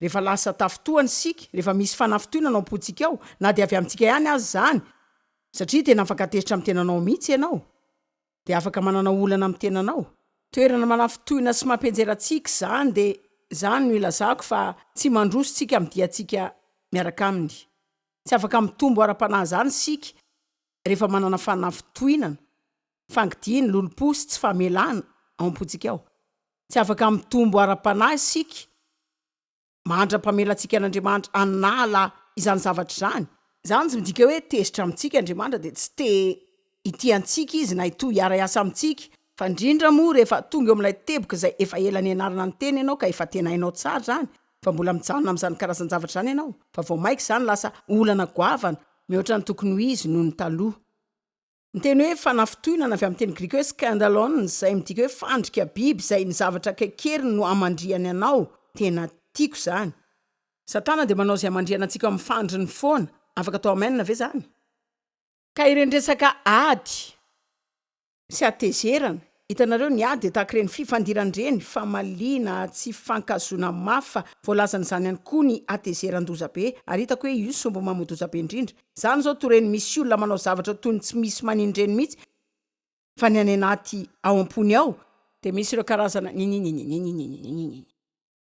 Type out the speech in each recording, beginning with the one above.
Rehefa lasa tafintohana isika, rehefa misy fanafintohinana ao am-pontsika ao, na dia avy amintsika ihany aza izany, satria tena afaka tezitra amin'ny tenanao mihitsy ianao, dia afaka manana olana amin'ny tenanao. Toerana manafintohina sy mampianjera antsika izany, dia izany no ilazako fa tsy mandroso isika amin'ny diantsika miaraka aminy. Tsy afaka mitombo ara-panahy izany isika rehefa manana fanafintohinana. Fangidia ny lolompo sy tsy famelana ao am-pontsika ao. Tsy afaka mitombo ara-panahy isika mandra-pamelantsika an'Andriamanitra hanala izany zavatra izany. Izany tsy midika hoe tezitra amintsika Andriamanitra dia tsy te hitia antsika Izy na hitohy hiara-hiasa amintsika, fa indrindra moa rehefa tonga eo amin'ilay teboka izay efa ela nianarana ny Teny ianao ka efa tena hainao tsara izany fa mbola mijanona amin'izany karazan-javatra izany ianao fa vao maika izany lasa olana goavana mihoatra ny tokony ho izy noho ny taloha. Ny teny hoe fanafintohinana avy amin'ny teny grika hoe skandalon, izay midika hoe fandrika biby, izay ny zavatra kaikeriny no hamandrihany anao, tena tiako izany. Satana dia manao izay hamandrihana antsika ao amin'ny fandriny foana. Afaka atao amen ve izany? Ka ireny resaka ady sy hatezerana, Hitanareo, ny ahy dia tahaka ireny fifandirana ireny, famaliana, tsy fifankahazoana mafy fa voalazan'izany ihany koa ny hatezeran-doza be, ary hitako hoe io sombo mamoa-doza be indrindra. Izany izao to reny misy olona manao zavatra toy ny tsy misy manino ireny mihitsy fa ny any anaty ao am-pony ao, dia misy ireo karazana nininininininininininin.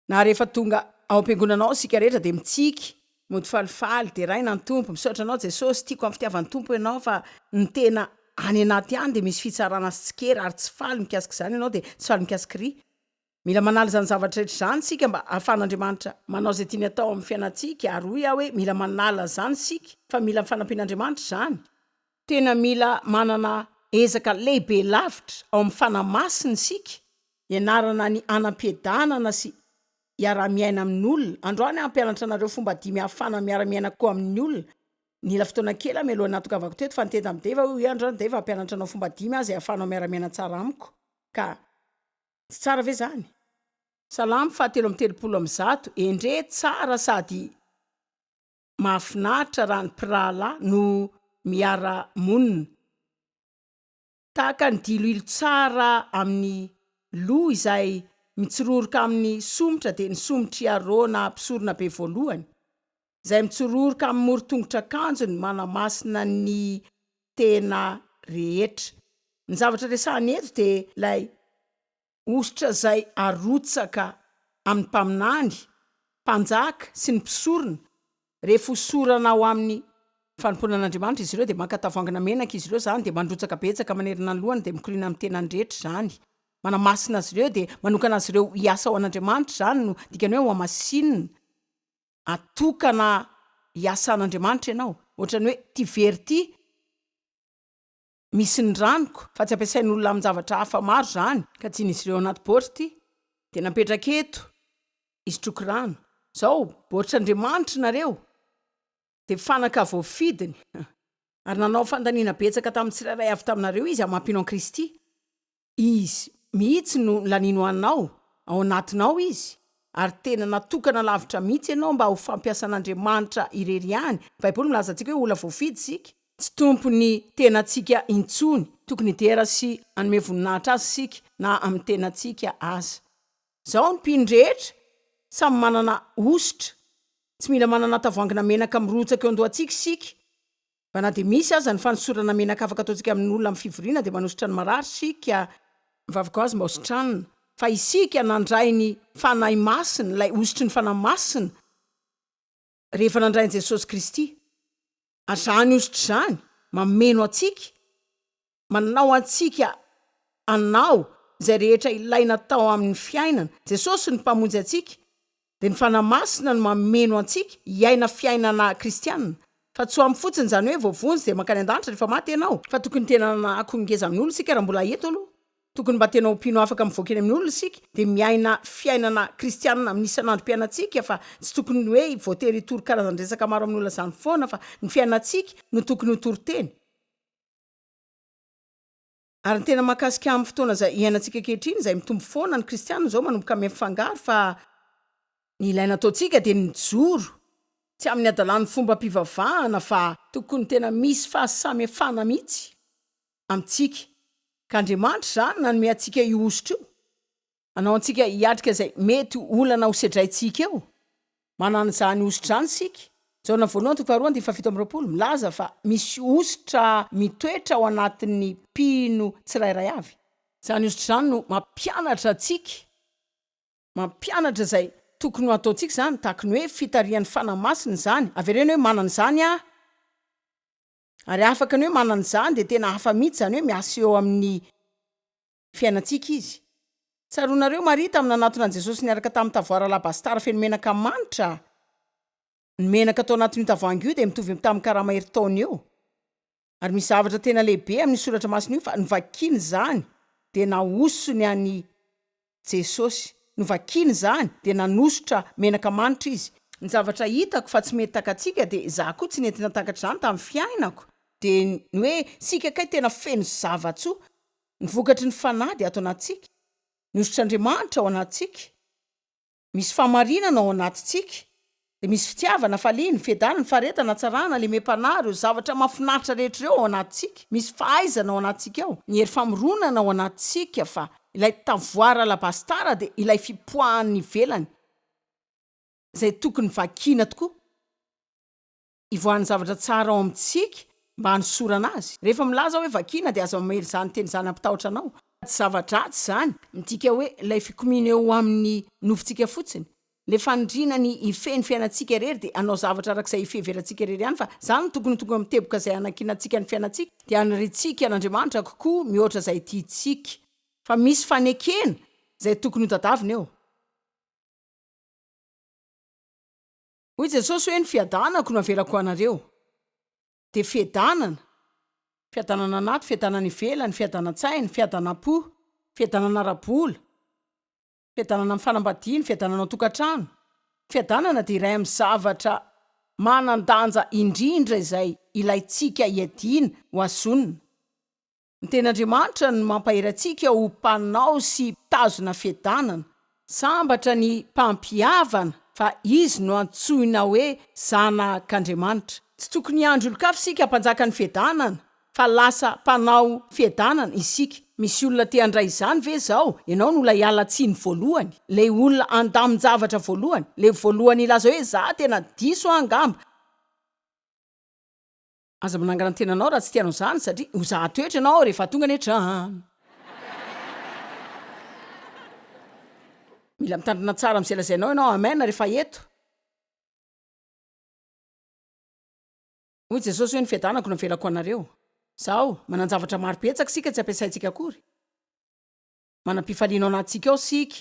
Na rehefa tonga ao am-piangonana ao isika rehetra dia mitsiky, mody falifaly, deraina ny Tompo, misaotra Anao Jesosy, tiako amin'ny fitiavan'ny Tompo Ianao fa ny tena any anaty ihany dia misy fitsarana sy tsikera ary tsy faly mikasika izany ianao dia tsy faly mikasika ry. Mila manala izany zavatra rehetra izany isika mba ahafahan'Andriamanitra manao izay tiany atao amin'ny fiainantsika ary hoy aho hoe mila manala izany isika fa mila ny fanampian'Andriamanitra izany. Tena mila manana ezaka lehibe lavitra ao amin'ny Fanahy Masina isika, ianarana ny hanam-piadanana sy hiaraha-miaina amin'olona. Androany aho hampianatra anareo fomba dimy ahafahana miara-miaina koa amin'ny olona. Nila fotoana kely aho mialohan'ny natongavako teto, fa niteny tamin'i Dave aho hoe, Androany Dave, hampianatra anao fomba dimy aho izay ahafahanao miara-miaina tsara amiko. Ka tsy tsara ve izany? Salamo fahatelo amby telopolo amby zato, Endrey tsara sady Mahafinaritra raha ny mpirahalahy no miara monina. Tahaka ny diloilo tsara amin'ny loha izay mitsiroroka amin'ny somotra dia ny somotr'i Arona mpisorona be voalohany, izay mitsiroroka amin'ny moron-tongotr'akanjony manamasina ny tena rehetra. Ny zavatra resahina eto dia ilay Hosotra izay arotsaka amin'ny mpaminany, mpanjaka sy ny mpisorona, rehefa hosorana ao amin'ny fanompoana an'Andriamanitra izy ireo dia maka tavoangina menaka izy ireo izany dia mandrotsaka betsaka manerana ny lohany dia mikoriana amin'ny tenany rehetra izany manamasina azy ireo dia manokana azy ireo hiasa ho an'Andriamanitra izany no dikany hoe hohamasinina atokana hiasa an'Andriamanitra ianao ohatrany hoe ity very ity misy ny ranoko fa tsy ampiasain'olona amin-javatra hafa maro izany ka tian'izy ireo anaty baority dia napetraka eto hisotroako rano. Izao baoritr'Andriamanitry nareo dia fanaka voafidiny ary nanao fandaniana betsaka tamin'ny tsirairay avy taminareo izy hamapino an'i Kristy. Izy mihitsy no lanino anao ao anatinao Izy, ary tena natokana lavitra mihitsy ianao mba ho fampiasan'Andriamanitra irery ihany. Ny Baiboly milaza antsika hoe olona voafidy isika. Tsy tompon'ny tenantsika intsony. Tokony hidera sy hanome voninahitra Azy isika na amin'ny tenantsika aza. Izao ny mpino rehetra samy manana hosotra. Tsy mila manana tavoangina menaka mirotsaka eo an-dohantsika isika. Fa na dia misy aza ny fanosorana menaka afaka ataontsika amin'ny olona amin'ny fivoriana dia manosotra ny marary isika, mivavaka ho azy mba hositranina, fa isika nandray ny Fanahy Masina, ilay hosotry ny Fanahy Masina rehefa nandray an'i Jesosy Kristy, ary izany hosotra izany mameno antsika, manao antsika hanao izay rehetra ilaina atao amin'ny fiainana. Jesosy ny Mpamonjy antsika, dia ny Fanahy Masina no mameno antsika hiaina fiainana kristiana. Fa tsy ho ampy fotsiny izany hoe voavonjy dia mankany an-danitra rehefa maty ianao. Fa tokony tena hanako ny ngezan'olona isika raha mbola eto aloha. Tokony mba tena ho mpino afaka mivoaka eny amin'ny olona isika, dia miaina fiainana kristiana amin'ny isan'androm-piainantsika, fa tsy tokony hoe voatery hitory karazan-dresaka maro amin'ny olona izany foana, fa ny fiainantsika no tokony ho toriteny. Ary ny tena mahakasika amin'ny fotoana izay iainantsika ankehitriny, izay mitombo foana ny kristiana izao manomboka mifangaro fa ny ilaina ataontsika dia ny mijoro, tsy amin'ny hadalan'ny fombam-pivavahana fa. Tokony tena misy fahasamihafana mihitsy amintsika, ka Andriamanitra izany nanome antsika io hosotra io. Manao antsika hiatrika izay mety ho olana ho sedraintsika eo. Manana izany hosotra izany isika. Jaona voalohany toko faharoa andininy fahafito amby roapolo milaza fa misy hosotra mitoetra ao anatin'ny mpino tsirairay avy. Izany hosotra izany no mampianatra antsika, mampianatra izay tokony ho ataontsika izany, tahaka ny hoe fitarihan'ny Fanahy Masina izany. Avereno hoe manana izany aho. Ary afaka ny hoe manana izany dia tena hafa mihitsy izany hoe miasa eo amin'ny fiainantsika izy. Tsaroanareo Maria tamin'ny nanatona an'i Jesosy niaraka tamin'ny tavoara alabastara feno menaka manitra? Ny menaka tao anatin'io tavoahangy io dia mitovy amin'ny tamin'ny karama herintaona eo. Ary misy zavatra tena lehibe amin'io soratra masina io fa novakiny izany dia nahosony an'i Jesosy. Novakiny izany dia nanosotra menaka manitra izy. Ny zavatra hitako fa tsy mety takatsika dia izaho koa tsy nety natakatra izany tamin'ny fiainako dia ny hoe isika kay tena feno zava-tsoa ny vokatry ny Fanahy dia ato anatintsika, ny hosotr'Andriamanitra ao anatintsika, misy fahamarinana ao anatintsika, dia misy fitiavana, hafaliany, fiadanany, faharetana, hatsarana, lemem-panahy, ireo zavatra mahafinaritra rehetra ireo ao anatintsika, misy fahaizana ao anatintsika ao, ny hery famoronana ao anatintsika, fa ilay tavoara alabastara dia ilay fipoahan'ny ivelany, izay tokony vakiana tokoa. ivoahan'ny zavatra tsara ao amintsika mba hanosorana azy. Rehefa milaza aho hoe vakiana dia aza mamely izany teny izany hampitahotra anao fa tsy zava-dratsy izany, midika hoe ilay fikomiana eo amin'ny nofontsika fotsiny. Ilay faniriana ny hifehy ny fiainantsika irery dia hanao zavatra araka izay fiheverantsika irery ihany fa izany no tokony ho tonga amin'ny teboka izay hanankinantsika ny fiainantsika dia hanirintsika an'Andriamanitra kokoa mihoatra izay tiantsika. Fa misy fanekena izay tokony ho tadavina eo. Hoy Jesosy hoe ny fiadanako no avelako ho anareo. Dia fiadanana, fiadanana anaty, fiadanana ivelany, fiadanan-tsaina, fiadanam-po, fiadanana ara-bola, fiadanana amin'ny fanambadiana, fiadanana ao an-tokantrano. Ny fiadanana dia iray amin'ny zavatra manan-danja indrindra izay ilaintsika hiadiana ho azy zonona. Ny Tenin'Andriamanitra no mampahery antsika ho mpanao sy mpitazona fiadanana. Sambatra ny mpampihavana fa izy no antsoina hoe zanak'Andriamanitra. Tsy tokony hiandry olon-kafa isika hampanjaka ny fiadanana, fa lasa mpanao fiadanana isika. Misy olona te handray izany ve izao? Ianao no ilay ala tsiny voalohany, ilay olona andamin-javatra voalohany, ilay voalohany hilaza hoe, 'Izaho tena diso aho angamba. Aza manangana ny tenanao raha tsy tianao izany satria ho zara toetra ianao rehefa tonga any an-trano. Mila mitandrina tsara amin'izay lazainao ianao. Amen rehefa eto. Hoy Jesosy hoe ny fiadanako no avelako ho anareo. Zao, manan-javatra maro betsaka isika tsy ampiasaintsika akory. Manam-pifaliana ao anatintsika ao isika.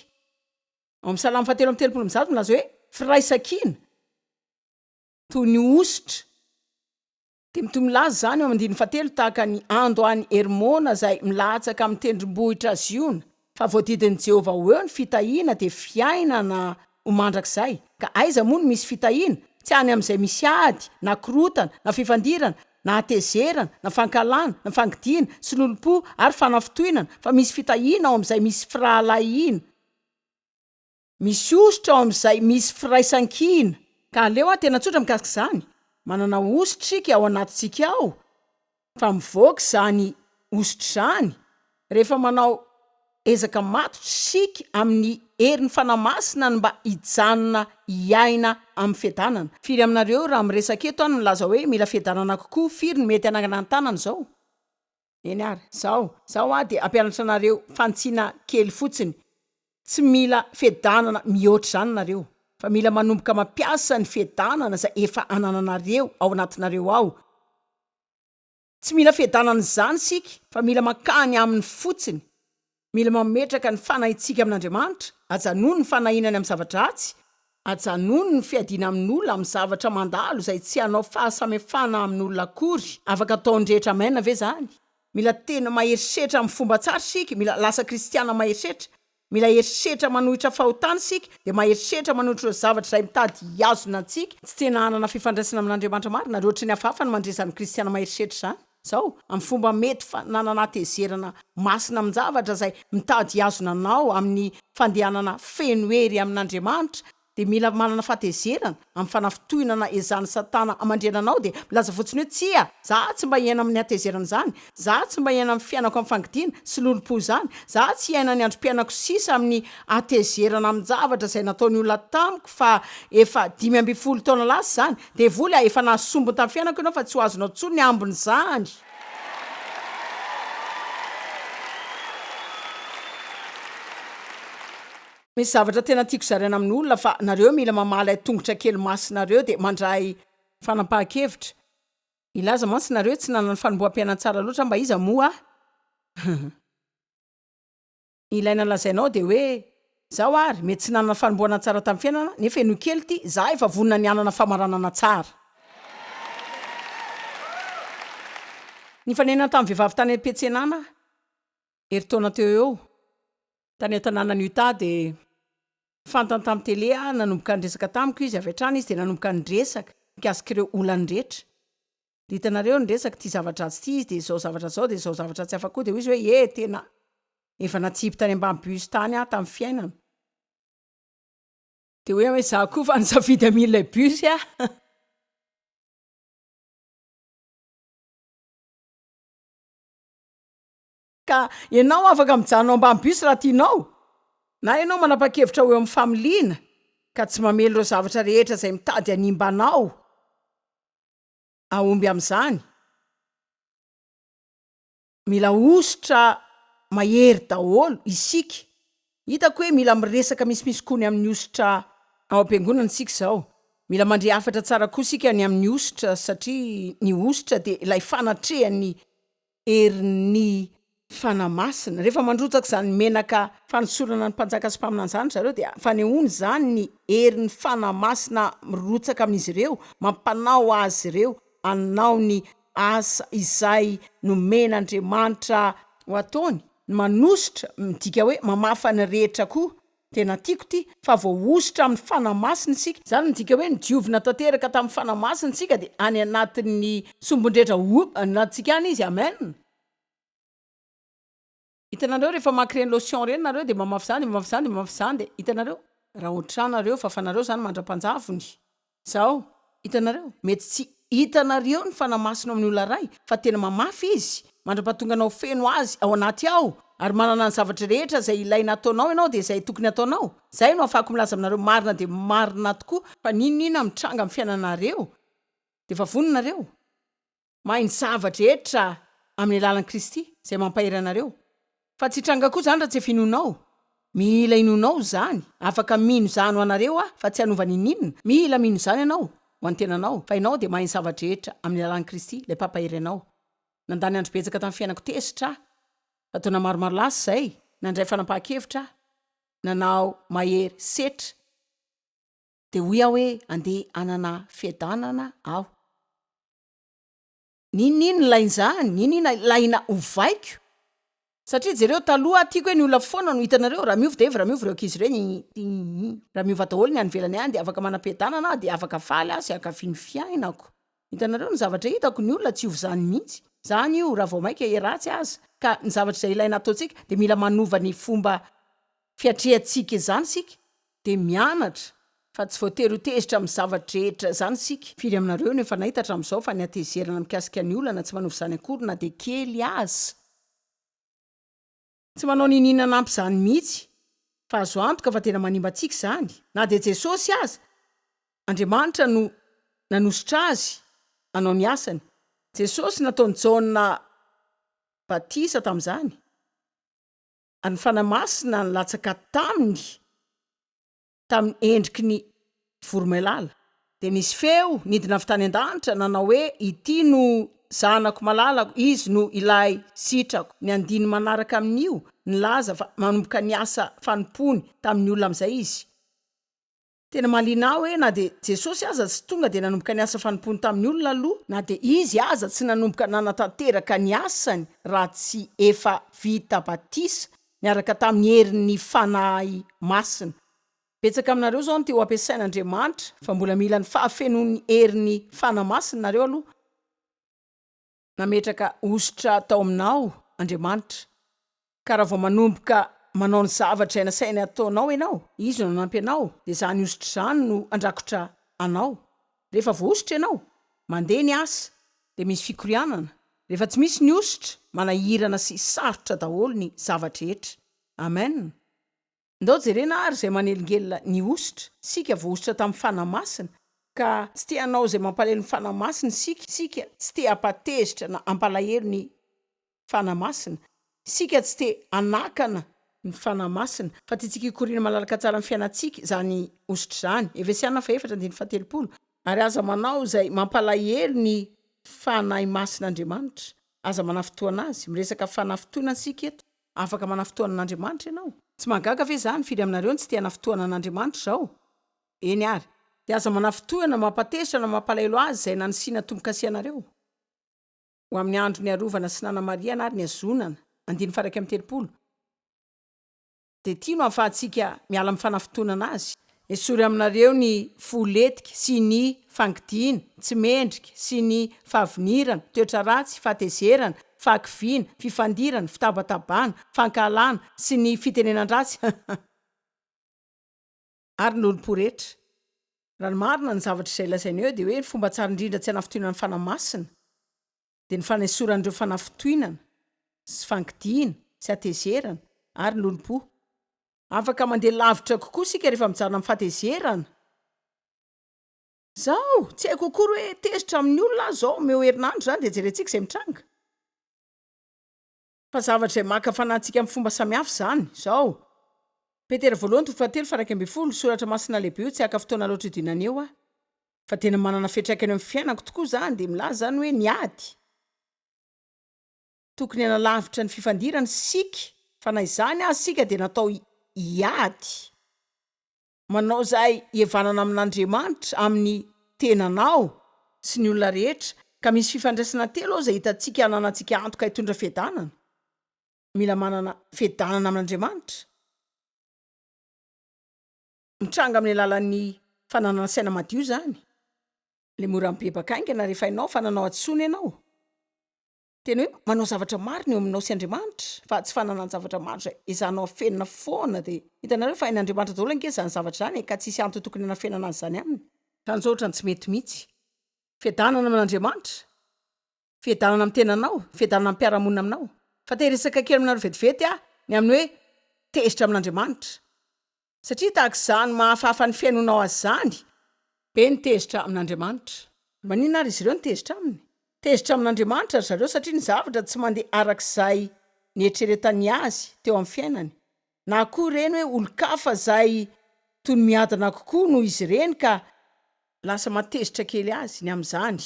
Ao amin'ny Salamo fahatelo amby telopolo amby zato milaza hoe, Firaisan-kina. toy ny hosotra. Dia mitohy milaza izany eo amin'ny andininy fahatelo tahaka an'i Ando any Hermona izay milatsaka amin'ny tendrombohitra Ziona, fa voadidin'i Jehovah ho eo ny fitahiana dia fiainana ho mandrakizay. Ka aiza moa no misy fitahiana? Tsy any amin'izay misy ady, na korotana, na fifandirana, na hatezerana, na fankahalana, na fangidiana, sy lolompo, ary fanafintohinana, fa misy fitahiana ao amin'izay misy firahalahiana. Misy hosotra ao amin'izay misy firaisankina. Ka aleo hatena tsotra mikasika izany, manana hosotra isika ao anatintsika ao, fa mivoaka izany hosotra izany rehefa manao ezaka matotra isika amin'ny herin'ny Fanahy Masina ny mba hijanona hiaina amin'ny fiadanana. Firy aminareo raha miresaka eto aho no milaza hoe mila fiadanana kokoa, firy no mety hanangana ny tanany izao? Eny ary, zao, zao hoa dia hampianatra anareo fantsina kely fotsiny, tsy mila fiadanana mihoatra izany nareo, fa mila manomboka mampiasa ny fiadanana izay efa anananareo ao anatinareo ao, tsy mila fiadanana izany isika fa mila mankany aminy fotsiny, Mila mametraka ny fanahintsika amin'Andriamanitra, ajanony ny fanahiana any amin'ny zavatra ratsy, ajanony ny fiadiana amin'olona amin'ny zavatra mandalo izay tsy hanao fahasamihafana amin'olona akory, afaka ataon'ny rehetra amen ve izany? Mila tena maherisetra amin'ny fomba tsara isika, mila lasa kristiana maherisetra, mila herisetra manohitra fahotana isika, dia maherisetra manohitra ireo zavatra izay mitady hihazona antsika tsy tena hanana fifandraisana amin'Andriamanitra marina, ary ohatry ny hafahafa ny mandresy izany kristiana maherisetra izany. Zao, amin'ny fomba mety fa nananatezerana masina amin-javatra izay mitady hihazona anao amin'ny fandehanana feno hery amin' Andriamanitra, dia mila manana fahatezerana amin'ny fanafintohinana ezahan'i Satana hamandrihana anao, dia milaza fotsiny hoe, Tsia, za tsy mba hiaina amin'ny hatezerana izany, za tsy mba hiaina amin'ny fiainako amin'ny fangidiana sy lolompo izany, za tsy hiaina ny androm-piainako sisa amin'ny hatezerana amin-javatra izay nataon'ny olona tamiko fa efa dimy ambin'ny folo taona lasa izany, Devoly a, efa nahasombiny tamin'ny fiainako ianao fa tsy ho azonao intsony ny ambin'izany! Misy zavatra tena tiako zaraina amin'ny olona fa nareo mila mamaha ilay tongotra kely masinareo dia mandray fanapahan-kevitra. Hilaza mantsy nareo hoe tsy nanana fanomboham-piainan-tsara loatra aho mba iza moa aho? Ny ilaina lazainao dia hoe, Izaho ary, mety tsy nanana fanombohana tsara tamin'ny fiainana, nefa henoy kely ity, izaho efa vonona ny hanana famaranana tsara. Nifanena tamin'ny vehivavy tany am-piantsenana aho, herintaona teo ho eo, tany an-tanànan'i Utah, dia fantany tamin'ny tele aho, nanomboka niresaka tamiko izy, avy hatrany izy dia nanomboka niresaka mikasika ireo olany rehetra. Hitanareo ny resaka ity zavatra dratsy ity izy dia izao zavatra izao dia izao zavatra tsy afa-ko dia hoy izy hoe ye tena efa natsipy tany ambany bus tany aho tamin'ny fiainana dia hoy aho hoe izaho koa efa nisafidy amin'ilay bus aho ka ianao afaka mijanona ao ambany bus raha tianao na ianao manapa-kevitra ho eo amin'ny familiana ka tsy mamely ireo zavatra rehetra izay mitady hanimba anao Hahomby amin'izany? Mila hosotra mahery daholo isika. Hitako hoe mila miresaka misimisy koa ny amin'ny hosotra ao am-piangonana isika izao. Mila mandre hafatra tsara koa isika ny amin'ny hosotra satria ny hosotra dia ilay fanatrehan'ny herin'ny Fanahy Masina. Rehefa mandrotsaka izany menaka fanosorana ny mpanjaka sy mpaminany izany ry zareo dia fanehoana izany ny herin'ny Fanahy Masina mirotsaka amin'izy ireo, mampanao azy ireo hanao ny asa izay nomen'Andriamanitra ho ataony. Ny manositra midika hoe mamafa ny rehetra koa. Tena tiako ity fa voahosotra amin'ny Fanahy Masina isika. Izany midika hoe nodiovina tanteraka tamin'ny Fanahy Masina isika dia any anatin'ny sombin-drehetra ho anatintsika any Izy. Amen. Hitanareo rehefa mamaky ireny lotion ireny nareo dia mamafy izany dia mamafy izany dia mamafy izany dia hitanareo raha ohatranareo fa fanareo izany mandra-panjavony. Zao, hitanareo, mety tsy hitanareo ny fanamasina ao amin'ny olona iray, fa tena mamafy izy, mandrapatonganao feno azy ao anaty ao, ary manana ny zavatra rehetra izay ilaina ataonao ianao dia izay tokony ataonao. Izay no ahafahako milaza aminareo marina dia marina tokoa fa n'inon'inona mitranga amin'ny fiainanareo dia efa vononareo. Mahay ny zava-drehetra amin'ny alalan'i Kristy izay mampahery anareo. Fa tsy hitranga koa izany raha tsy finoanao. Mila inoanao izany. Afaka mino izany ho anareo aho fa tsy hanova n'inon'inona. Mila mino izany ianao ho an'ny tenanao fa ianao dia mahay ny zava-drehetra amin'ny alalan'i Kristy ilay mpampahery anao. Nandany andro betsaka tamin'ny fiainako tezitra aho. Fa taona maromaro lasa izay, nandray fanapahan-kevitra aho. Nanao mahery setra. Dia hoy aho hoe andeha hanana fiadanana aho. Niniana ilay nzany, niniana ilay na ovaiko satria jereo taloha tiako hoe ny olona foana no hitanareo, raha miova dia iva, raha miova ireo ankizy ireny iiii, raha miova daholo ny any ivelany any dia afaka manam-piadanana aho dia afaka faly aho sy hankafy ny fiainako, hitanareo ny zavatra hitako, ny olona tsy hiova izany mihitsy, izany io raha vao maika hiha-ratsy aza, ka ny zavatra izay ilaina ataontsika dia mila manova ny fomba fiatrehantsika izany isika dia mianatra fa tsy voatery ho tezitra amin'ny zavatra rehetra izany isika. Firy aminareo no efa nahita hatramin'izao fa ny hatezerana mikasika ny olana tsy manova izany akory na dia kely aza? Tsy manao niniana hanampy izany mihitsy, fa azo antoka fa tena manimba antsika izany. Na dia Jesosy aza, Andriamanitra no nanosotra azy hanao ny asany. Jesosy nataon'i Jaona batisa tamin'izany. Ary ny Fanahy Masina nilatsaka taminy tamin'ny endriky ny voromailala. Dia nisy feo nidina avy tany an-danitra nanao hoe, Ity no Zanako malalako, Izy no Ilay sitrako. Ny andininy manaraka amin'io nilaza fa manomboka niasa fanompoany tamin'ny olona amin'izay Izy. Tena mahaliana ahy hoe na dia Jesosy aza tsy tonga dia nanomboka ny asa fanompoany tamin'ny olona aloha, na dia Izy aza tsy nanomboka nanatanteraka ny asany raha tsy efa vita batisa niaraka tamin'ny herin'ny Fanahy Masina. Betsaka aminareo izao no te ho ampiasain'Andriamanitra fa mbola mila ny fahafenoan'ny herin'ny Fanahy Masina nareo aloha. Nametraka hosotra tao aminao Andriamanitra, ka raha vao manomboka manao ny zavatra nasainy hataonao ianao, Izy no nanampy anao, dia izany hosotra izany no handrakotra anao. Rehefa voahosotra ianao, mandeha ny asa, dia misy fikorianana. Rehefa tsy misy ny hosotra, manahirana sy sarotra daholo ny zava-drehetra. Amen. Ndao jerena ary izay manelingelina ny hosotra, isika voahosotra tamin'ny Fanahy Masina, ka tsy te hanao izay mampalahelo ny Fanahy Masina isika, isika tsy te hampatezitra na hampalahelo ny Fanahy Masina, isika tsy te hanakana, ny Fanahy Masina, fa tiantsika hikoriana malalaka tsara amin'ny fiainantsika izany hosotra izany, Efesiana fahefatra andininy fahatelopolo, ary aza manao izay mampalahelo ny Fanahy Masin'Andriamanitra, aza manafintohina Azy, miresaka fanafintohina isika eto. Afaka manafintoanan'Andriamanitra ianao. Tsy mahagaga ve izany? Firy aminareo no tsy te hanafintoanan'Andriamanitra izao? Eny àry. Dia aza manafintohina, mampatezitra na mampalahelo Azy izay nanisiana tombo-kase anareo, ho amin'ny andro niarovana sy nanamarihana ary nihazonana. Andininy faha iraika amby telopolo, Dia ity no ahafahantsika miala amin'ny fanafintohinana Azy. Esory aminareo ny fo letika sy ny fangidiana, tsy mendrika, sy ny fahavinirana, toetra ratsy, fahatezerana, fahakiviana, fifandirana, fitabatabana, fankahalana, sy ny fitenenan-dratsy, hahha. Ary ny olom-po rehetra. Raha ny marina, ny zavatra izay lazaina eo dia hoe ny fomba tsara indrindra tsy hanafintohinan'ny Fanahy Masina dia ny fanesorana ireo fanafintohinana sy fangidiana sy hatezerana ary ny olom-po. Afaka mandeha lavitra kokoa isika rehefa mijanona amin'ny fahatezerana. Izao, tsy haiko akory hoe tezitra amin'ny olona aho izao, omeo herinandro izany dia jerentsika izay mitranga. Fa zavatra izay maka fanahintsika amin'ny fomba samihafa izany. Izao, Petera Voalohany toko fahatelo faha iraika ambin'ny folo, Soratra Masina lehibe io, tsy haka fotoana loatra hidinana eo aho. Fa tena manana fiantraikany eo amin'ny fiainako tokoa izany, dia milaza izany hoe ny ady. tokony hanalavitra ny fifandirana isika fa na izany aza isika dia natao hiady manao izay hihavanana amin'Andriamanitra, amin'ny tenanao sy ny olona rehetra ka misy fifandraisana telo ao izay hitantsika hananantsika antoka hitondra fiadanana, mila manana fiadanana amin'Andriamanitra mitranga amin'ny alalan'ny fananana saina madio izany, ilay mora mibebaka haingana rehefa hainao fa nanao hadisoana ianao. Tena hoe manao zavatra marina eo aminao sy Andriamanitra fa tsy fananan-javatra maro izay ezahanao afenina foana dia hitanareo fa hain'Andriamanitra daholo ange izany zavatra izany e ka tsisy antony tokony hanafenana azy izany aminy. Tanjaotra ny tsy mety mihitsy. Fiadanana amin'Andriamanitra. Fiadanana amin'ny tenanao, fiadanana amin'ny mpiara-monina aminao. Fa te hiresaka kely aminareo vetivety aho ny amin'ny hoe tezitra amin'Andriamanitra. Satria tahaka izany mahafahafa ny fihainonao azy izany. Be ny tezitra amin' Andriamanitra. Maninona ary izy ireo no tezitra aminy? Tezitra amin' Andriamanitra ry zareo satria ny zavatra tsy mandeha araka izay nieritreretany azy teo amin'ny fiainany, na koa ireny hoe olon-kafa izay toy ny miadana kokoa noho izy ireny ka lasa mahatezitra kely azy ny amin'izany.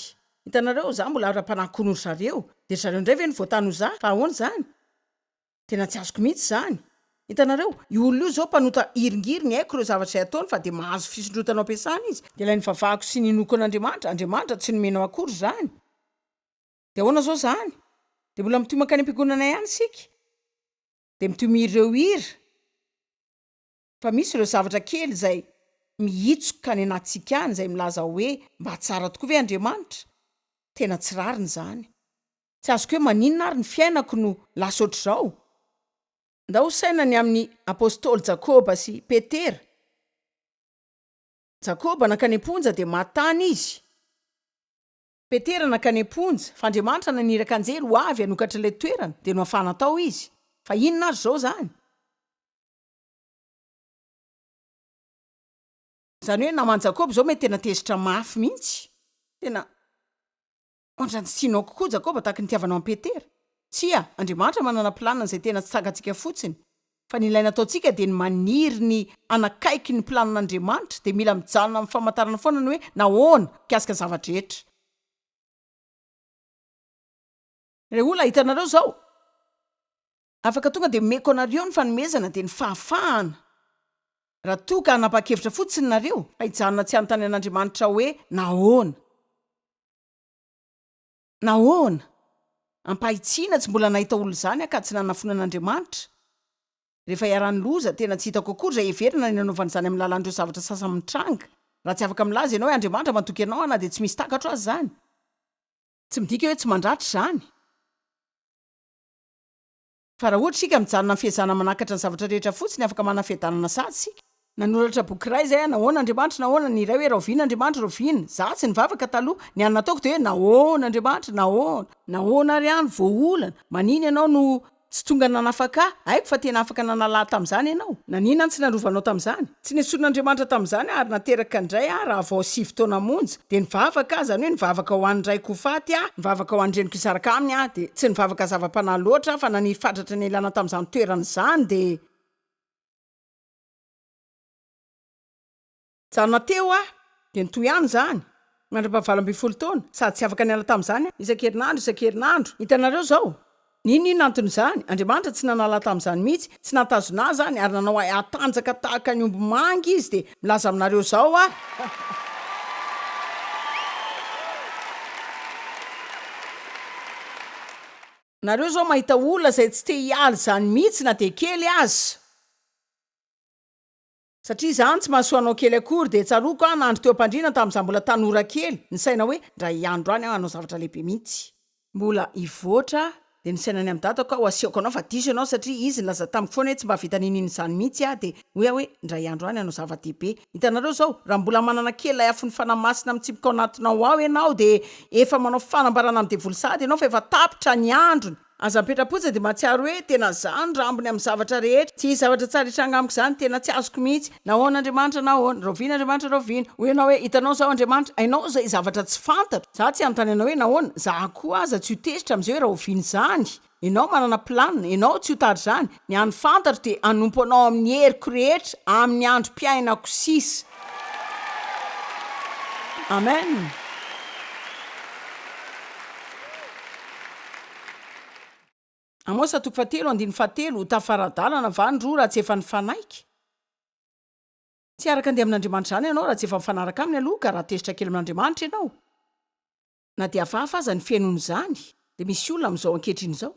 Hitanareo, izaho mbola ara-panahy koa noho ry zareo, dia ry zareo indray ve no voatany ho izaho? Fa ahoana izany? Tena tsy azoko mihitsy izany. Hitanareo, io olona io izao mpanota hiringiriny, haiko ireo zavatra izay ataony fa dia mahazo fisondrotana ao am-piasana izy, dia ilay nivavahako sy ninoako an'Andriamanitra, Andriamanitra tsy nomenao akory izany. Dia ahoana izao izany? Dia mbola mitohy mankany am-piangonana ihany isika, dia mitohy mihira ireo hira. fa misy ireo zavatra kely izay mihitsoka any anatintsika any izay milaza hoe mba tsara tokoa ve Andriamanitra? Tena tsy rariny izany. Tsy azoko hoe maninona ary ny fiainako no lasa ohatr'izao? Ndao ho saina ny amin'ny apostoly Jakoba sy Petera. Jakoba nankany am-ponja dia maty tany izy. Petera nankany am-ponja fa Andriamanitra naniraka anjely ho avy hanokatra ilay toerana dia nohafahana tao izy. Fa inona ary izao izany? Izany hoe naman'i Jakoba izao mety tena tezitra mafy mihitsy. Tena ohatra ny tsy tianao kokoa Jakoba tahaka ny itiavanao an'i Petera. Tsia, Andriamanitra manana planina izay tena tsy tsakantsika fotsiny. Fa ny ilaina ataontsika dia ny maniry ny hanakaiky ny planin'Andriamanitra, dia mila mijanona amin'ny famantarana foana ny hoe nahoana, mikasika ny zava-drehetra. Ireo olona hitanareo izao, Afaka tonga dia omeko anareo ny fanomezana dia ny fahafahana, raha toa ka hanapa-kevitra fotsiny nareo, fa hijanona tsy hanontany an'Andriamanitra hoe nahoana. Nahoana? Ampahitsiana tsy mbola nahita olona izany aho ka tsy nanafoana an'Andriamanitra. Rehefa iharan'ny loza, tena tsy hitako akory izay heverina ny hanaovana izany amin'ny alalan'ireo zavatra sasany mitranga. Raha tsy afaka milaza ianao hoe Andriamanitra mandoky anao aho na dia tsy misy takatro aza izany, tsy midika hoe tsy mandratra izany. Fa raha ohatra isika mijanona amin'ny fiezahana manakatra ny zavatra rehetra fotsiny, afaka manana fiadanana sahaja isika. Nanoratra boky iray izay hoe, Nahoana Andriamanitra Nahoana ny iray hoe, Rahoviana Andriamanitra Rahoviana. Izaho tsy nivavaka taloha. Ny hany nataoko dia hoe, Nahoana Andriamanitra? Nahoana? Nahoana ary aho no voaolana? Manina Ianao no tsy tonga nanafaka ahy? Haiko fa tena afaka nanala ahy tamin'izany Ianao. Nanina no tsy narovanao tamin'izany? Tsy nesorin'Andriamanitra tamin'izany aho, ary nateraka indray aho raha vao sivy taona monja, dia nivavaka aho, izany hoe nivavaka ho an'ny raiko ho faty aho, nivavaka ho an'ny reniko hisaraka aminy aho, dia tsy nivavaka zava-panahy loatra aho fa naniry fatratra nialana tamin'izany toerana izany, dia. Nijanona teo aho, dia nitohy ihany izany, mandra-paha valo ambin'ny folo taona, sady tsy afaka niala tamin'izany aho, isan-kerinandro, isan-kerinandro, hitanareo izao? N'inon'inona anton'izany, Andriamanitra tsy nanala tamin'izany mihitsy, tsy nahatazona ahy izany, ary nanao ahy hatanjaka tahaka ny omby manga Izy, dia milaza aminareo izao aho. Nareo izao mahita olona izay tsy te hiala izany mihitsy na dia kely aza. Satria izany tsy mahasoa anao kely akory dia tsaroako aho nandry teo am-pandriana tamin'izaho mbola tanora kely, nisaina hoe ndra hiandro any aho hanao zavatra lehibe mihitsy, mbola hivoatra aho, dia nisaina ny amin'ny dadako aho asiako anao fa diso ianao satria izy nilaza tamiko foana hoe tsy mba vita n'inon'inona izany mihitsy aho dia hoy aho hoe ndra hiandro any hanao zava-dehibe. Hitanareo izao, raha mbola manana kely ilay afon'ny Fanahy Masina mitsipika ao anatinao ao ianao dia efa manao fanambarana amin'ny devoly sahady ianao fa efa tapitra ny androny, Aza mipetra-potsiny dia mahatsiaro hoe tena izaho no rambony amin'ny zavatra rehetra. Tsy hisy zavatra tsara hitranga amiko izany, tena tsy azoko mihitsy. Na ahoana Andriamanitra na ahoana. Rahoviana Andriamanitra rahoviana. Hoy ianao hoe, hitanao izao Andriamanitra, hainao izay zavatra tsy fantatro. Izaho tsy hanontany anao hoe nahoana, izaho koa aza tsy ho tezitra amin'izay hoe rahoviana izany. Ianao manana planina, ianao tsy ho tara izany. Ny an'ny fantatra dia hanompo Anao amin'ny heriko rehetra, amin'ny androm-piainako sisa. Amen. Amosa toko fahatelo andininy fahatelo, ho tafara-dalana va ny roa raha tsy efa nifanaiky? Tsy hiaraka andeha amin'Andriamanitra izany ianao raha tsy efa mifanaraka Aminy aloha ka raha tezitra kely amin'Andriamanitra ianao, na dia hafahafa aza ny fenon'izany, dia misy olona amin'izao ankehitriny izao,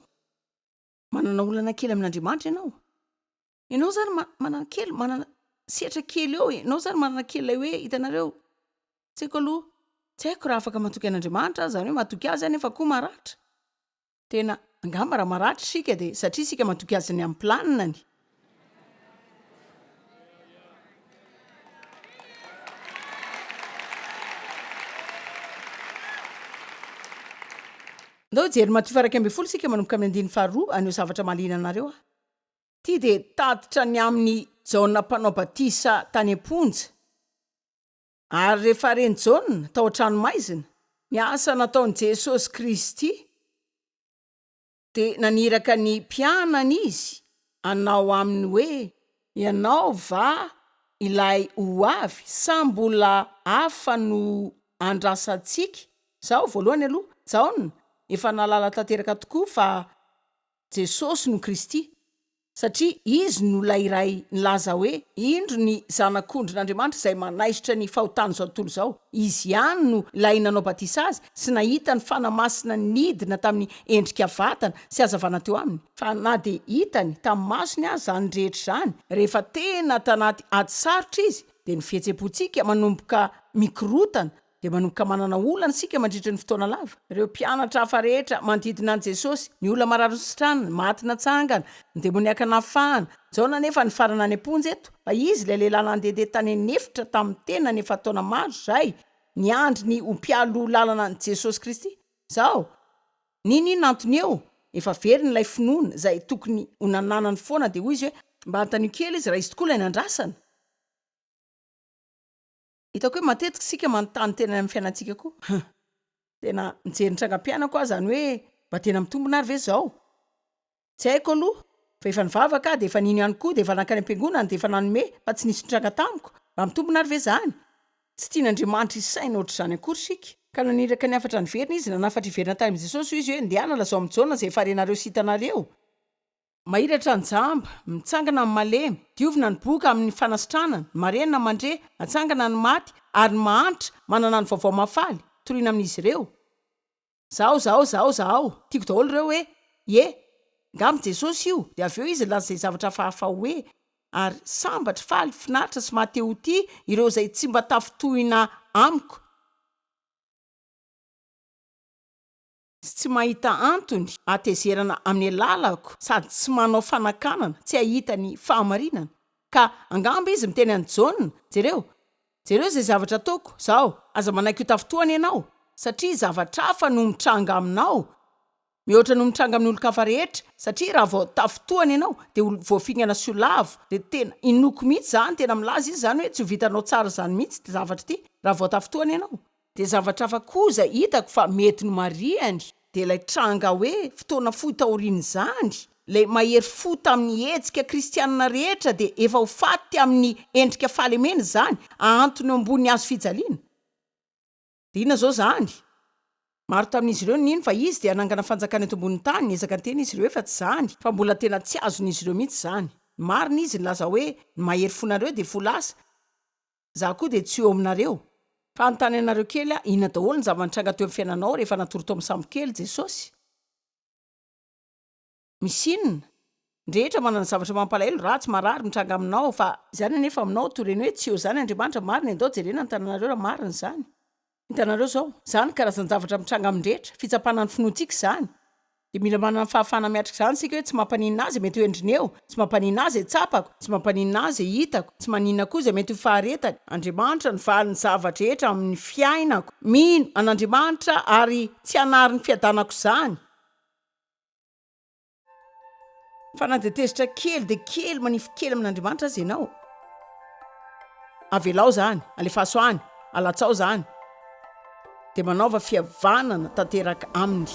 Manana olana kely amin'Andriamanitra ianao. Ianao izany manana kely, manana sehatra kely eo. Ianao izany manana kely ilay hoe hitanareo, tsy haiko aloha, tsy haiko raha afaka matoky an'Andriamanitra aza, izany hoe matoky azy aho nefa koa maratra. Tena, angamba raha maratra isika dia satria isika matoky azy ny amin'ny planiny. Andao hijery ny Matio faha-iraika ambin'ny folo isika manomboka amin'ny andininy faharoa haneho zavatra mahaliana anareo aho. Ity dia tatitra ny amin'i Jaona mpanao batisa tany am-ponja. Ary rehefa ren'i Jaona tao an-tranomaizina, ny asa nataon'i Jesosy Kristy, dia naniraka ny mpianany izy hanao aminy hoe, Ianao va ilay ho avy sa mbola hafa no andrasantsika? Izaho, voalohany aloha, Jaona, efa nahalala tanteraka tokoa fa Jesosy no Kristy. Satria Izy no ilay Iray nilaza hoe, Indro ny Zanak'ondrin'Andriamanitra izay manaisotra ny fahotan'izao tontolo izao. Izy ihany no ilay nanao batisa Azy sy nahita ny Fanahy Masina nidina tamin'ny endrika vatana sy hazavana teo Aminy. Fa na dia hitany tamin'ny masony aza izany rehetra izany, rehefa tena tanaty ady sarotra Izy, dia ny fihetseham-pontsika manomboka mikorotana dia manomboka manana olana isika mandritra ny fotoana lava. Ireo mpianatra hafa rehetra manodidina an'i Jesosy, ny olona marary nositrana, ny maty natsangana, ny demoniaka nafahana. Jaona anefa nifarana any am-ponja eto, fa izy, ilay lehilahy nandehandeha tany an'efitra tamin'ny tenany efa taona maro izay, niandry ny ho mpialoha lalana an'i Jesosy Kristy. Izao, n'inon'inona antony eo, efa very ilay finoana izay tokony ho nananany foana, dia hoy izy hoe, Mba anontanio kely izy raha izy tokoa ilay nandrasana. Hitako hoe matetika isika manontany tena any amin'ny fiainantsika koa hum! tena mijery ny trangam-piainako aho izany hoe mba tena mitombina ary ve izao? tsy haiko aloha fa efa nivavaka aho dia efa nino ihany koa dia efa nankany am-piangonana dia efa nanome fa tsy nisy nitranga tamiko, mba mitombina ary ve izany? tsy tian'Andriamanitra hisaina ohatr'izany akory isika. Ka naniraka ny hafatra niverina izy, nanafatra hiverina tany amin'i Jesosy hoy izy hoe, Ndehana lazao amin'i Jaona izay efa renareo sy hitanareo. Mahiratra ny jamba, mitsangana ny malemy, diovina ny boka amin' ny fanasitranana, ny marenina mandre, atsangana ny maty, ary ny mahantra manana ny vaovao mahafaly, torina amin' izy ireo. Zahao, zahao, zahao, zahao. Tiako daholo ireo hoe, Ie, ngamba Jesosy io, dia avy eo Izy nilaza izay zavatra hafahafa hoe, Ary sambatra, faly, finaritra, sy mahate-ho-tia ireo izay tsy mba tafintohina Amiko. sy tsy mahita antony hatezerana amin'ny alalako sady tsy manao fanakanana tsy hahita ny fahamarinana ka angamba izy miteny an'i Jaona, jereo, jereo izay zavatra ataoko izaho, aza manaiky ho tafintohina ianao satria zavatra hafa no mitranga aminao mihoatra no mitranga amin'ny olon-kafa rehetra satria raha vao tafintohina ianao dia ho voafingana sy ho lavo, dia tena inoako mihitsy izany, tena milaza izy izany hoe tsy ho vitanao tsara izany mihitsy ity zavatra ity raha vao tafintohina ianao. Dia zavatra hafa koa izay hitako fa mety nomarihany dia ilay tranga hoe fotoana fohy taorian'izany, ilay mahery fo tamin'ny hetsika kristianina rehetra dia efa ho faty amin'ny endrika fahalemena izany, ahantony eo ambony hazo fijaliana. Dia inona izao izany? Maro tamin'izy ireo nino fa Izy dia hanangana fanjakana eto ambonin'ny tany, niezaka niteny izy ireo efa tsy izany, fa mbola tena tsy azon'izy ireo mihitsy izany. Ny marina Izy nilaza hoe, Ny mahery fonareo dia fo lasa. Za koa dia tsy eo aminareo. Fanontany anareo kely ah, inona daholo ny zava-nitranga teo amin'ny fiainanao rehefa natory tao amin'ny sambokely Jesosy? Misy inona? Ny rehetra manana zavatra mampalahelo, ratsy, marary, mitranga aminao, fa. Izany anefa aminao, to reny hoe tsy eo izany Andriamanitra, marina e, ndao jerena ny tananareo raha marina izany. Hitanareo izao, izany karazan-javatra mitranga amin'ny rehetra, fitsapana ny finoantsika izany. Dia mila manana ny fahafahana miatrika izany isika hoe tsy mampaninona ahy izay mety ho endriny eo, tsy mampaninona ahy izay tsapako, tsy mampaninona ahy izay hitako, tsy maninona koa izay mety ho faharetany. Andriamanitra no valin'ny zava-drehetra amin'ny fiainako. Mino an'Andriamanitra ary tsy hanary ny fiadanako izany. Fa na dia tezitra kely dia kely manify kely amin'Andriamanitra aza ianao, avelao izany, alefaso any, alatsao izany, dia manaova fihavanana tanteraka aminy.